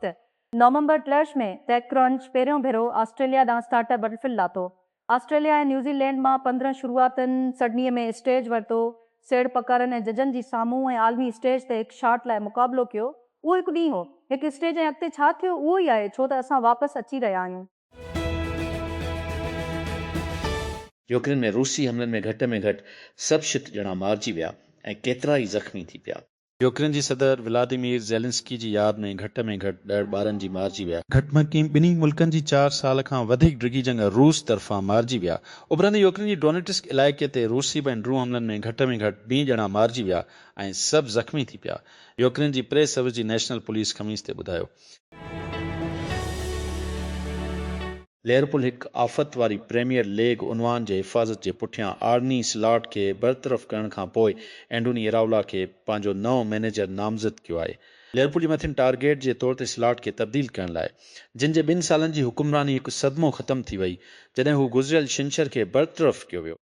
ته نومبر ٽيلرز ۾ ٽيڪ ڪرنچ پهريون ڀيرو آسٽريليا ڏانهن اسٽارٽ اپ بٽرفل لاتو. آسٽريليا ۽ نيوزي لينڊ مان پندرهن شروعاتين سڊني ۾ اسٽيج ورتو، سيڙپڪارن ۽ ججن جي سامهون ۽ عالمي اسٽيج تي هڪ شاٽ لاء مقابلو ڪيو. اهو هڪ ڏينهن هو، هڪ اسٽيج ۽ اڳتي ڇا ٿيو اهو ئي آهي ڇو ته اسان واپس اچي رهيا آهيون. يوڪرين ۾ روسي حملن ۾ گهٽ ۾ گهٽ سڀ شت ڄڻا مارجي ويا ۽ ڪيترا ئي زخمي ٿي پيا. يوڪرين جي صدر ولاديمير زيلنسڪي جي ياد ۾ گهٽ ۾ گهٽ ڏهه ٻارن جي مارجي ويا. گهٽ ۾ گهٽ ٻنهي ملڪن جي چار سال کان وڌيڪ ڊگهي جنگ روس طرفان مارجي ويا. اڀرندي يوڪرين جي ڊونيٽسڪ علائقي تي روسي بين ڊرون حملن ۾ گهٽ ۾ گهٽ بين ڄڻا مارجي ويا ۽ سڀ زخمي ٿي پيا. يوڪرين جي پريس سروس جي نيشنل پوليس خميس تي ٻڌايو. ليورپول هڪ آفت واري پريميئر ليگ عنوان جي حفاظت جي پٺيان آرني سلاٽ کي برطرف ڪرڻ کان پوء اينڊوني اراولا کي پنهنجو نئون مئنيجر نامزد ڪيو آهي. ليورپول جي مٿين ٽارگيٽ جي طور تي سلاٽ کي تبديل ڪرڻ لاء جن جي ٻن سالن جي حڪمراني هڪ صدمو ختم ٿي وئي جڏهن هو گذريل ڇنڇر کي برطرف ڪيو ويو.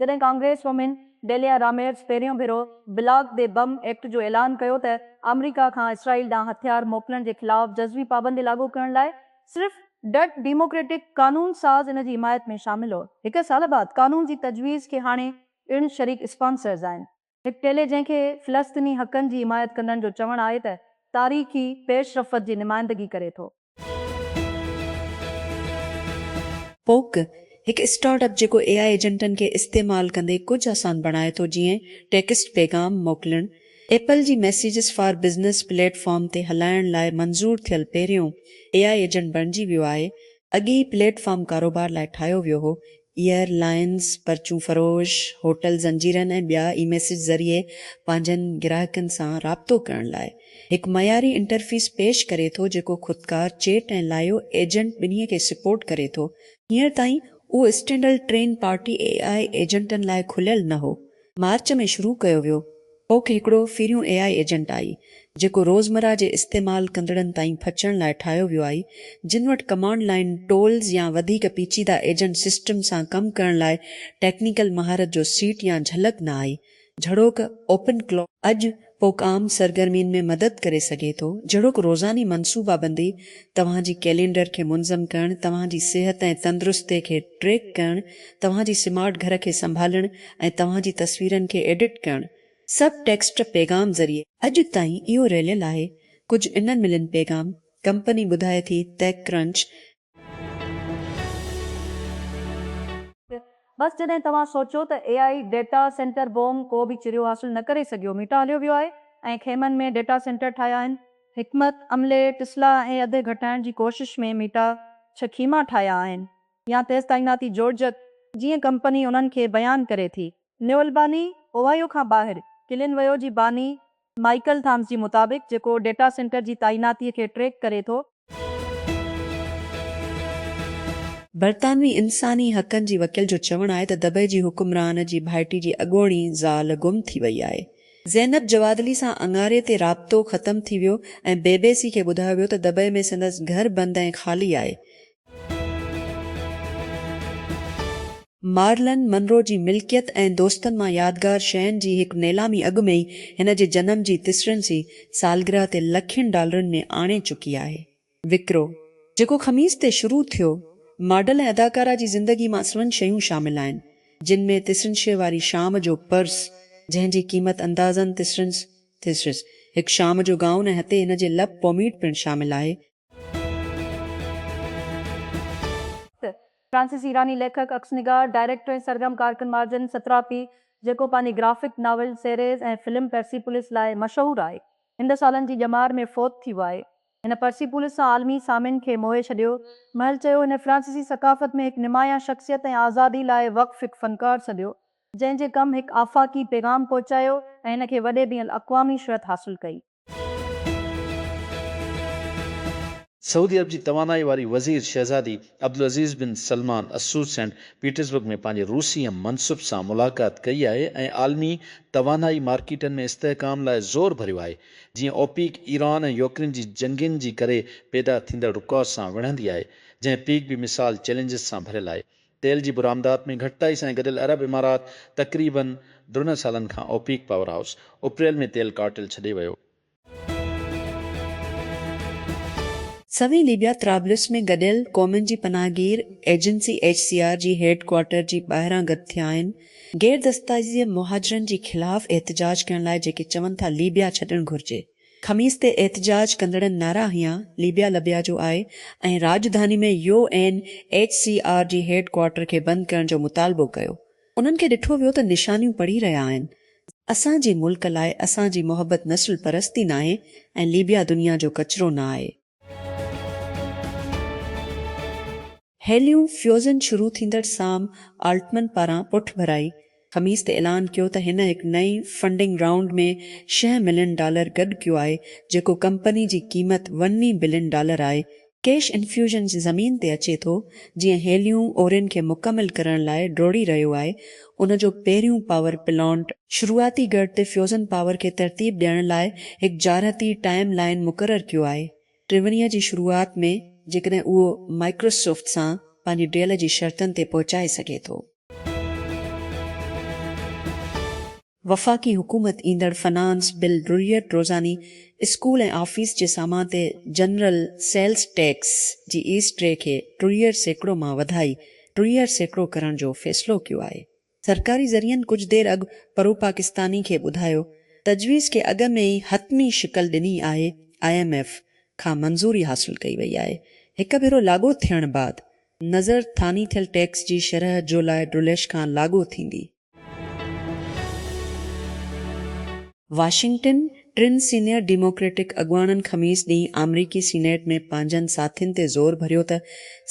جڏهن ڪانگريس وومين ڊيليا راميرز پهريون ڀيرو بلاڪ دي بم ايڪٽ جو اعلان ڪيو ته آمريڪا کان اسرائيل ڏانهن هٿيار موڪلڻ جي خلاف جزوي پابندي لاڳو ڪرڻ لاء صرف ڊٽ ڊيموڪريٽڪ قانون ساز ان جي حمايت ۾ شامل هو. هڪ سال بعد قانون جي تجويز کي هاڻي پڻ شريڪ اسپانسرز آهن. هڪ ٽيلي جنهن کي فلسطيني حقن جي حمايت ڪندڙن جو چوڻ آهي ته تاريخي پيش رفت جي نمائندگي ڪري ٿو. پوڪ، هڪ اسٽارٽ اپ جيڪو اي آء ايجنٽن کي استعمال ڪندي ڪجهه آسان بڻائي ٿو جيئن ٽيڪسٽ پيغام موڪلڻ، ايپل جي messages for business platform تي هلائڻ لاء منظور ٿيل پهريون اي آء ايجنٽ بڻجي ويو آهي، اڳي هي پليٽ فارم ڪاروبار لاء ٺاهيو ويو هو، ايئر لائينز، پرچون فروش، هوٽل زنجيرن ۽ ٻيا اي ميسيج ذريعي پنهنجن گراهڪن سان رابطو ڪرڻ لاء هڪ معياري انٽرفيس پيش ڪري ٿو جيڪو خودڪار چيٽ ۽ لائيو ايجنٽ ٻنهي کي سپورٽ ڪري ٿو. هينئر تائين اهو standalone party A I ايجنٽن لاء کليل نه هو مارچ ۾ شروع ڪيو ويو، ڪوڪ هڪڙو پھريون اي آء ايجنٽ آھي، جيڪو روزمره جي استعمال ڪندڙن تائين پھچڻ لاء ٺاھيو ويو آھي، جن وٽ ڪمانڊ لائين ٽولز يا وڌيڪ پيچيده ايجنٽ سسٽم سان ڪم ڪرڻ لاء ٽيڪنيڪل مھارت جو سيٽ يا جھلڪ نه آھي، جھڙوڪ اوپن ڪلاڪ. اڄ پوک عام سرگرمين ۾ مدد ڪري سگهي ٿو، جهڙوڪ روزاني منصوبابندي، توهان جي ڪيلينڊر کي منظم ڪرڻ، توهان جي صحت ۽ تندرستي کي ٽريڪ ڪرڻ، توهان جي سمارٽ گهر کي سنڀالڻ ۽ توهان جي تصويرن کي ايڊٽ ڪرڻ. سڀ ٽيڪسٽ پيغام ذريعي. اڄ تائين اهو رليل آهي ڪجهه انهن ملين پيغام، ڪمپني ٻڌائي ٿي TechCrunch، بس جڏهن توهان سوچيو ته A I data centre boom ڪو به چريو حاصل نه ڪري سگهيو ميٽا هليو ويو آهي ۽ خيمن ۾ ڊيٽا سينٽر ٺاهيا آهن. حڪمت عملي ٽسلا ۽ اڌ گهٽائڻ جي ڪوشش ۾ ميٽا ڇهه خيما ٺاهيا آهن يا تيز تعيناتي جوڙجڪ جيئن ڪمپني انهن کي بيان ڪري ٿي. نيو الباني، اوهائيو کان ٻاهر ڪلين ويو جي باني مائيڪل ٿامس جي مطابق جيڪو ڊيٽا سينٽر جي تعيناتي کي ٽريڪ ڪري ٿو، برطانوي انساني حقن جي وڪيل جو چوڻ آهي ته دبئي جي حڪمران جي ڀائٽي جي اڳوڻي زال گم ٿي وئي آهي. زينب جوادلي سان اڱاري تي رابطو ختم ٿي ويو ۽ بي بي سي کي ٻڌايو ويو ته دبئي ۾ سندس گهر بند ۽ خالي آهي، مارلن منرو جي ملڪيت ۽ دوستن مان يادگار شين جي هڪ نيلامي اڳ ۾ ئي هن جي جنم جي تسرنسي سالگرهه تي لکين ڊالرن ۾ آڻي چڪي آهي. وڪرو، جيڪو خميس تي شروع ٿيو، ماڊل ۽ اداڪارا جي زندگي مان سوين شيون شامل آهن، جن ۾ تسرنسي واري شام جو پرس، جنهن جي قيمت اندازن تسرنس، Thysseris، هڪ شام جو گائون ۽ هتي هن جي لپ پوميڊ پڻ شامل آهي. فرانسيسي ايراني ليکڪ، عڪس نگار، ڊائريڪٽر ۽ سرگرم ڪارڪن مارجن ستراپي، جيڪو پنهنجي graphic novel series ۽ film Persepolis لاء مشهور آهي، هند سالن جي ڄمار ۾ فوت ٿي ويو آهي. هن پرسيپولس سان عالمي سامين کي موهي ڇڏيو. مهل چيو، هن فرانسيسي ثقافت ۾ هڪ نمايان شخصيت ۽ آزادي لاء وقف هڪ فنڪار سڏيو، جنهن جي ڪم هڪ آفاقي پيغام پهچايو ۽ هن کي وڏي بين الاقوامي شهرت حاصل ڪئي. سعودي عرب جي توانائي واري وزير شهزادي Abdulaziz bin Salman Al Saud Saint Petersburg ۾ پنهنجي روسي هم منصب سان ملاقات ڪئي آهي ۽ عالمي توانائي مارڪيٽن ۾ استحڪام لاء زور ڀريو آهي جيئن اوپيڪ ايران ۽ يوڪرين جي جنگين جي ڪري پيدا ٿيندڙ رڪاوٽ سان وڙهندي آهي جنهن پيڪ به مثال چئلينجز سان ڀريل آهي تيل جي برآمدات ۾ گهٽتائي سان گڏيل عرب امارات تقريباً ڊرنهن سالن کان اوپيڪ پاور هائوس اپريل ۾ تيل ڪارٽيل ڇڏي ويو. سوين ليبيا طرابلس ۾ گڏيل قومن جي پناهه گير ايجنسي ايڇ سي آر جي هيڊ ڪوارٽر جي ٻاهران گڏ ٿيا آهن غير دستايزيء مهاجرن جي خلاف احتجاج ڪرڻ لاء جيڪي چون ٿا ليبيا ڇڏڻ گهرجي. خميس تي احتجاج ڪندڙن نعرا هنيا ليبيا لبيا جو آء ۽ راڄڌاني ۾ U N H C R جي هيڊ ڪوارٽر کي بند ڪرڻ جو مطالبو ڪيو انهن کي ڏٺو ويو ته نشانيون پڙهي رهيا آهن اسان جي ملڪ لاء اسان جي محبت نسل پرستي ناهي ۽ ليبيا دنيا جو ڪچرو نه آهي. هيليون فيوزن شروع ٿيندڙ سام آلٽمن پاران پٺڀرائي، خميس تي اعلان ڪيو ته هن هڪ نئين فنڊنگ رائونڊ ۾ شينهن ملين ڊالر گڏ ڪيو آهي جيڪو ڪمپني جي قيمت وني بلين ڊالر آهي. ڪيش انفيوزن زمين تي اچي ٿو جيئن هيليون اورين کي مڪمل ڪرڻ لاء ڊوڙي رهيو آهي ان جو پهريون پاور پلانٽ شروعاتي ڳڙهه تي فيوزن پاور کي ترتيب ڏيڻ لاء هڪ جارحتي ٽائيم لائين مقرر ڪيو آهي. ٽيونيء جي شروعات ۾ جيڪڏهن اهو مائڪروسوفٽ سان پنهنجي ڊيل جي شرطن تي پهچائي سگهي ٿو. وفاقي حڪومت ايندڙ فنانس بل ضروريت روزاني اسڪول ۽ آفيس جي سامان تي general sales tax G S T کي ضروريت سيڪڙو مان وڌائي ٽيهه سيڪڙو ڪرڻ جو فيصلو ڪيو آهي. سرڪاري ذريعن ڪجهه دير اڳ پروپاڪستاني کي ٻڌايو تجويز کي اڳ ۾ ئي حتمي شڪل ڏني آهي، آء ايم ايف کان منظوري حاصل ڪئي وئي آهي، هڪ ڀيرو لاڳو ٿيڻ بعد نظر ٿاني ٿيل ٽيڪس جي شرح جولاء ڊوليش کان لاڳو ٿيندي. واشنگٽن، ٽن سينيئر ڊيموڪريٽڪ اڳواڻن خميس ڏينهن آمريڪي سينيٽ ۾ پنهنجن ساٿين تي زور ڀريو ته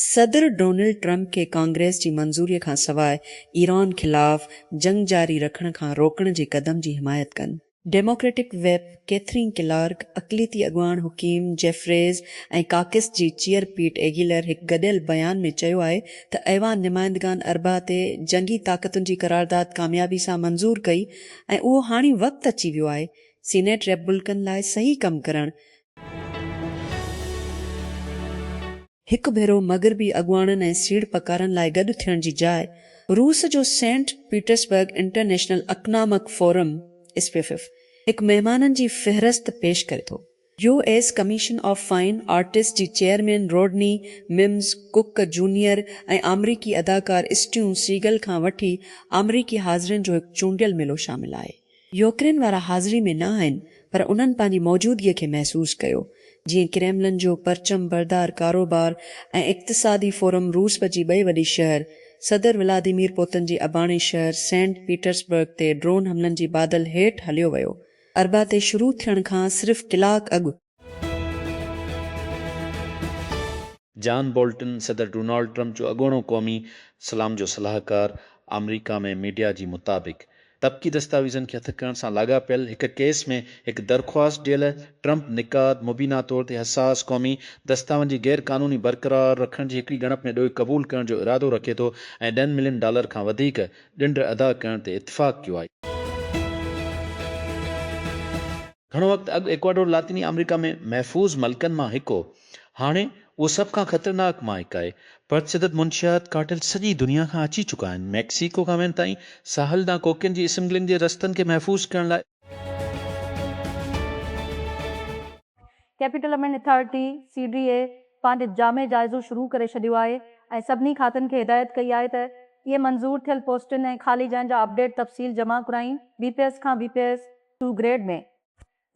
صدر ڊونلڊ ٽرمپ کي ڪانگريس جي منظوري کانسواء ايران خلاف جنگ جاري رکڻ کان روڪڻ جي قدم جي حمايت ڪن. ڊيموڪريٽڪ ويپ ڪيٿرين ڪلارڪ، اقليتي اڳواڻ حڪيم جيفريز ۽ ڪاڪس جي چيئر پيٽ ايگيلر هڪ گڏيل بيان ۾ چيو آهي ته ايوان نمائندگان اربعا تي جنگي طاقتن جي قرارداد ڪاميابي سان منظور ڪئي ۽ اهو هاڻي وقت اچي ويو آهي سينيٽ ريپبلڪن لاء صحيح ڪم ڪرڻ هڪ ڀيرو مغربي اڳواڻن ۽ سيڙپڪارن لاء گڏ ٿيڻ جي جاء روس جو Saint Petersburg international economic forum, SPIEF, هڪ مهمانن جي فهرست پيش ڪري ٿو. U S commission of fine arts جي chairman Rodney Mims Cook junior ۽ آمريڪي اداڪار اسٽيون سيگل کان وٺي آمريڪي حاضرين جو هڪ چونڊيل ميلو شامل آهي. يوڪرين وارا حاضري ۾ نه آهن پر انهن پنهنجي موجودگي کي محسوس ڪيو، جيئن ڪريملن جو پرچم بردار ڪاروبار ۽ اقتصادي فورم روسب جي ٻئي وڏي شهر صدر ولاديمير پوتن جي اباڻي شهر سينٽ پيٽرسبرگ تي ڊرون حملن جي بادل هيٺ هليو ويو. اربع تي شروع ٿيڻ کان صرف ڪلاڪ اڳ جان بولٽن صدر ڊونالڊ ٽرمپ جو اڳوڻو قومي سلام جو صلاحڪار آمريڪا ۾ ميڊيا جي مطابق طبقي دستاويزن کي هٿ ڪرڻ سان لاڳاپيل هڪ ڪيس ۾ هڪ درخواست ڏيل ٽرمپ نقاد مبينا طور تي حساس قومي دستاون جي غير قانوني برقرار رکڻ جي هڪڙي ڳڻپ ۾ ڏوهه قبول ڪرڻ جو ارادو رکي ٿو ۽ ڏهن ملين ڊالر کان وڌيڪ ڏنڊ ادا ڪرڻ تي اتفاق ڪيو آهي. گهڻو وقت اڳ ايڪواڊور لاطيني آمريڪا ۾ محفوظ ملڪن مان هڪ هو، هاڻي اهو سڀ کان خطرناڪ مان هڪ آهي. پرتشدد منشيات ڪارٽيل سڄي دنيا کان اچي چڪا آهن، ميڪسيڪو کان وين تائين، ساحل ڏانهن ڪوڪين جي اسمگلنگ جي رستن کي محفوظ ڪرڻ لاء. Capital amend authority, C D A, پنهنجو جامع جائزو شروع ڪري ڇڏيو آهي ۽ سڀني کاتن کي هدايت ڪئي آهي ته اهي منظور ٿيل پوسٽن ۽ خالي جاين جا اپڊيٽ تفصيل جمع ڪرائين، بي پي ايس کان B P S, two grade ۾.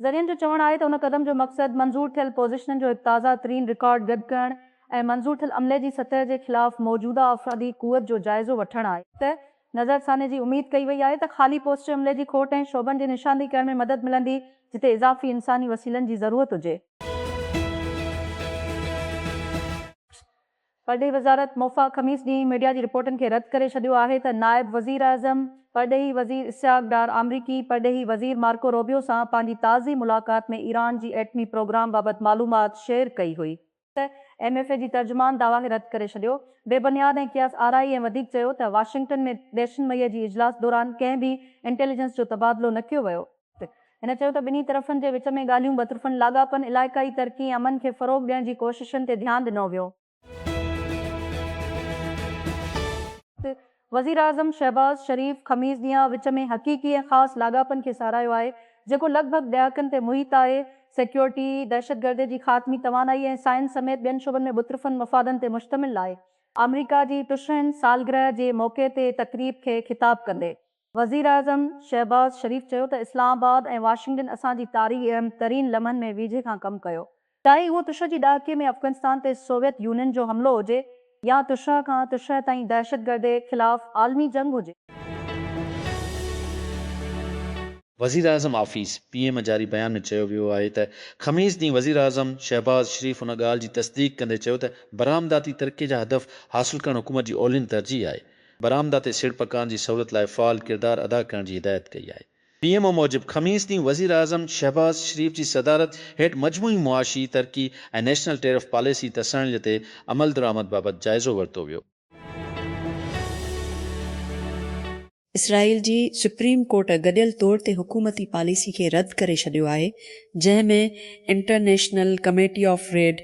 ذريعن جو چوڻ آهي ته ان قدم جو مقصد منظور ٿيل پوزيشنن جو هڪ تازه ترين رڪارڊ گڏ ڪرڻ ۽ منظور ٿيل عملي جي سطح جي خلاف موجوده آفرادي قوت جو جائزو وٺڻ آهي. تي نظرثاني جي اميد ڪئي وئي آهي ته خالي پوسٽ عملي جي کوٽ ۽ شعبن جي نشاندهي ڪرڻ ۾ مدد ملندي جتي اضافي انساني وسيلن جي ضرورت هجي. پرڏيهي وزارت موفا خميس ڏينهن ميڊيا جي رپورٽن کي رد ڪري ڇڏيو آهي ته نائب وزيراعظم پرڏيهي وزير اسحاق ڊار آمريڪي پرڏيهي وزير مارڪو روبيو سان پنهنجي تازي ملاقات ۾ ايران جي ايٽمي پروگرام بابت معلومات شيئر ڪئي هئي. ايم ايف اي جي ترجمان دعويٰ کي رد ڪري ڇڏيو. بي بنياد ۽ قياس آرائي ۽ وڌيڪ چيو ته واشنگٽن ۾ ڏهشن مئي جي اجلاس دوران ڪنهن به انٽيليجنس جو تبادلو نه ڪيو ويو. هن چيو ته ٻنهي طرفن جي وچ ۾ ڳالهيون بطرفن لاڳاپن، علائقائي ترقي ۽ امن کي فروغ ڏيڻ جي ڪوششن تي ڌيان ڏنو ويو. وزيراعظم شهباز شريف خميس ڏينهن وچ ۾ حقيقي ۽ خاص لاڳاپن کي ساراهيو آهي، جيڪو لڳ ڀڳ ڏهاڪن تي محيط آهي، سيڪيورٽي، دهشتگردي جي خاتمي، توانائي ۽ سائنس سميت ٻين شعبن ۾ بطرفن مفادن تي مشتمل آهي. آمريڪا جي ٽشهن سالگرهه جي موقعي تي تقريب کي خطاب ڪندي وزيراعظم شهباز شريف چيو ته اسلام آباد ۽ واشنگٽن اسان جي تاريخ جي اهم ترين لمحن ۾ ويجهي کان ڪم ڪيو، چاهي اهو تشهه جي ڏهاڪي ۾ افغانستان تي سوويت يونين جو حملو هجي يا تشهه کان تشهه تائين دهشتگردي خلاف عالمي جنگ هجي. وزيراعظم آفيس، پي ايم، جاري بيان ۾ چيو ويو آهي ته خميس ڏينهن وزيراعظم شهباز شريف ان ڳالهه جي تصديق ڪندي چيو ته برآمداتي ترقي جا هدف حاصل ڪرڻ حڪومت جي اولين ترجيح آهي، برآمده تي سيڙپڪارن جي سهولت لاء فعال ڪردار ادا ڪرڻ جي هدايت ڪئي آهي. پي ايم او موجب خميس ڏينهن وزيراعظم شهباز شريف جي صدارت هيٺ مجموعي معاشي ترقي ۽ نيشنل ٽيرف پاليسي تساڻيل تي عملدرآمد بابت جائزو ورتو ويو. اسرائيل جي سپريم ڪورٽ گڏيل طور تي حڪومتي پاليسي کي رد ڪري ڇڏيو آهي جنهن ۾ انٽرنيشنل ڪميٽي آف ريڊ،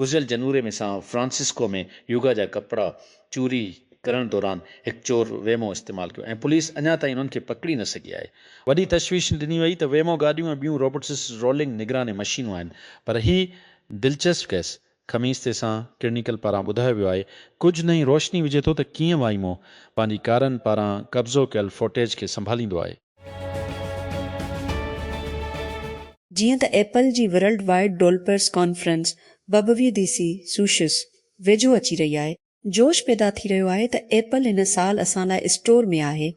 گذريل جنوري ۾ سان فرانسسڪو ۾ يوگا جا ڪپڙا چوري ڪرڻ دوران هڪ چور ويمو استعمال ڪيو ۽ پوليس اڃا تائين انهن کي پڪڙي نه سگهي آهي. وڏي تشويش ڏني وئي ته ويمو گاڏيون ۽ ٻيون روبوٽسز رولنگ نگراني مشينون آهن پر هي دلچسپ ڪيس خميس تي سان ڪرنيڪل پاران ٻڌايو ويو آهي ڪجهه نه ئي روشني وجهي ٿو ته ڪيئن وائمو پنهنجي ڪارن پاران قبضو ڪيل فوٽيج کي سنڀاليندو آهي. جيئن ته ايپل جي ورلڊ وائيڊ ڊولپرز ڪانفرنس ببويديسي سوشس ويجهو اچي رهي آهي جوش پيدا ٿي رهيو آهي ته ايپل هن سال اسان لاء اسٽور ۾ آهي،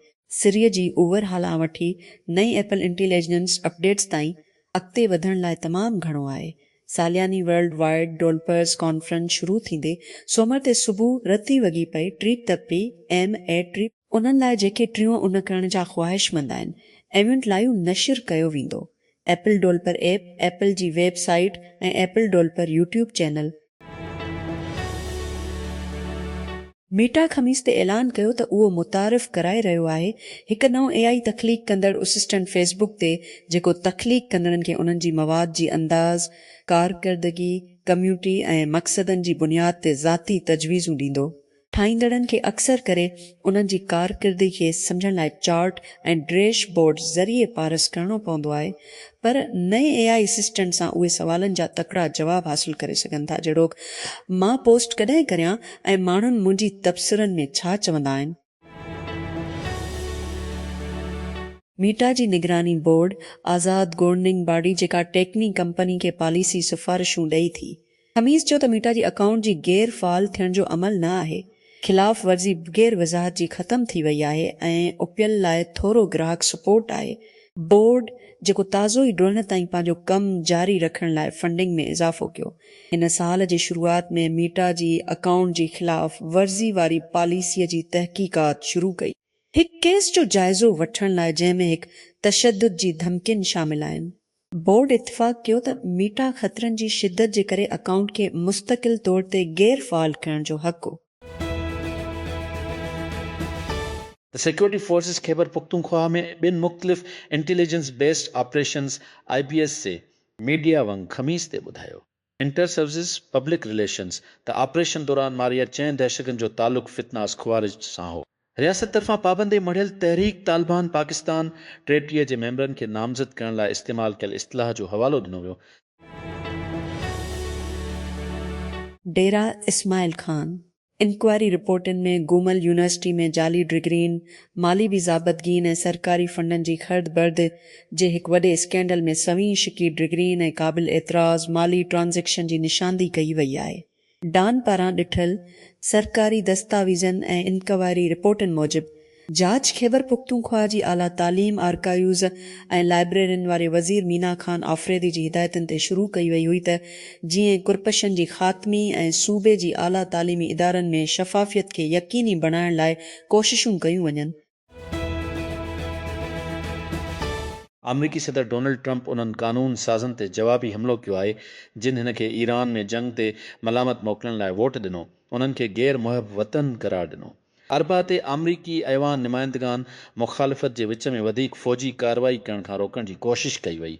سري جي اوور هال آن وٺي نئين ايپل انٽيليجنس اپڊيٽس تائين اڳتي وڌڻ لاء تمام گهڻو آهي. سالياني ورلڊ وائيڊ ڊولپرز ڪانفرنس شروع ٿيندي سومر تي صبح رتي وڳي پئي ٽريپ تپي ايم اي ٽريپ. انهن لاء جيڪي ٽيون ان ڪرڻ جا خواهشمند آهن ايونٽ لائيو نشر ڪيو ويندو ايپل ڊولپر ايپ ايپل جي website ۽ Apple developer YouTube channel. Meta خميس تي اعلان ڪيو ته اهو متعارف ڪرائي رهيو آهي هڪ نئون اي آئي تخليق ڪندڙ اسسٽنٽ فيس بڪ تي جيڪو تخليق ڪندڙن کي انهن جي مواد جي انداز، ڪارڪردگي، ڪميوٽي ۽ مقصدن جي بنياد تي ذاتي تجويزون ڏيندو ٺاهيندڙن کي اڪثر ڪري انهن جي ڪارڪردگي کي سمجهڻ لاء چارٽ ۽ ڊريش بورڊ ذريعي پارس ڪرڻو پوندو آهي پر نئين اي آئي اسسٽنٽ سان اهي سوالن جا تڪڙا جواب حاصل ڪري سگهن ٿا جهڙوڪ مان پوسٽ ڪڏهن ڪريان ۽ ماڻهن منهنجي تبصرن ۾ ڇا چوندا آهن. ميٽا جي نگراني بورڊ آزاد گورننگ باڊي جيڪا ٽيڪني ڪمپني کي پاليسي سفارشون ڏئي ٿي. خميس چيو ته ميٽا جي اڪائونٽ جي غير فعال ٿيڻ جو عمل نه آهي، خلاف ورزي بغير وضاحت جي ختم ٿي وئي آهي ۽ اپيل لاء ٿورو گراهڪ سپورٽ آهي، بورڊ جيڪو تازو ئي ڊوهن تائين پنهنجو ڪم جاري رکڻ لاء فنڊنگ ۾ اضافو ڪيو، هن سال جي شروعات ۾ ميٽا جي اڪائونٽ جي خلاف ورزي واري پاليسي جي تحقيقات شروع ڪئي، هڪ ڪيس جو جائزو وٺڻ لاء جنهن ۾ هڪ تشدد جي ڌمڪين شامل آهن، بورڊ اتفاق ڪيو ته ميٽا خطرن جي شدت جي ڪري اڪائونٽ کي مستقل طور تي غير فعال ڪرڻ جو حق هو. سيڪيورٽي فورسز خيبر پختونخواهه ۾ ٻن مختلف intelligence based operations, I B S, جي ميڊيا ونگ خميس تي ٻڌايو انٽر سروسز پبلڪ رليشنز ته آپريشن دوران ماريل چئن دهشتگردن جو تعلق فتناس خوارج سان هو. رياست طرفان پابندي مڙهيل تحريڪ طالبان پاڪستان ٽيٽي جي ميمبرن کي نامزد ڪرڻ لاء استعمال ڪيل اصطلاح جو حوالو ڏنو ويو. ڊيرا اسماعيل خان انڪوائري رپورٽن ۾ گومل يونيورسٽي ۾ جعلي ڊگرين، مالي بي ضابطگين ۽ سرڪاري فنڊن جي خرد برد جي هڪ وڏي اسڪينڊل ۾ سوين شڪي ڊگرين ۽ قابل اعتراض مالي ٽرانزيڪشن جي نشاندهي ڪئي وئي آهي. ڊان پاران ڏٺل سرڪاري دستاويزن ۽ انڪوائري رپورٽن موجب جاچ خيبرپختونخوا جي اعليٰ تعليم، آرڪائيوز ۽ لائبريرين واري وزير مينا خان آفريدي جي هدايتن تي شروع ڪئي وئي هئي ته جيئن ڪرپشن جي خاتمي ۽ صوبي جي اعليٰ تعليمي ادارن ۾ شفافيت کي يقيني بڻائڻ لاء ڪوششون ڪيون وڃن. آمريڪي صدر ڊونلڊ ٽرمپ انهن قانون سازن تي جوابي حملو ڪيو آهي جن هن کي ايران ۾ جنگ تي ملامت موڪلڻ لاء ووٽ ڏنو، انهن کي غير محب وطن قرار ڏنو. اربع تي آمريڪي ايوان نمائندگان مخالفت جي وچ ۾ وڌيڪ فوجي ڪارروائي ڪرڻ کان روڪڻ جي ڪوشش ڪئي وئي،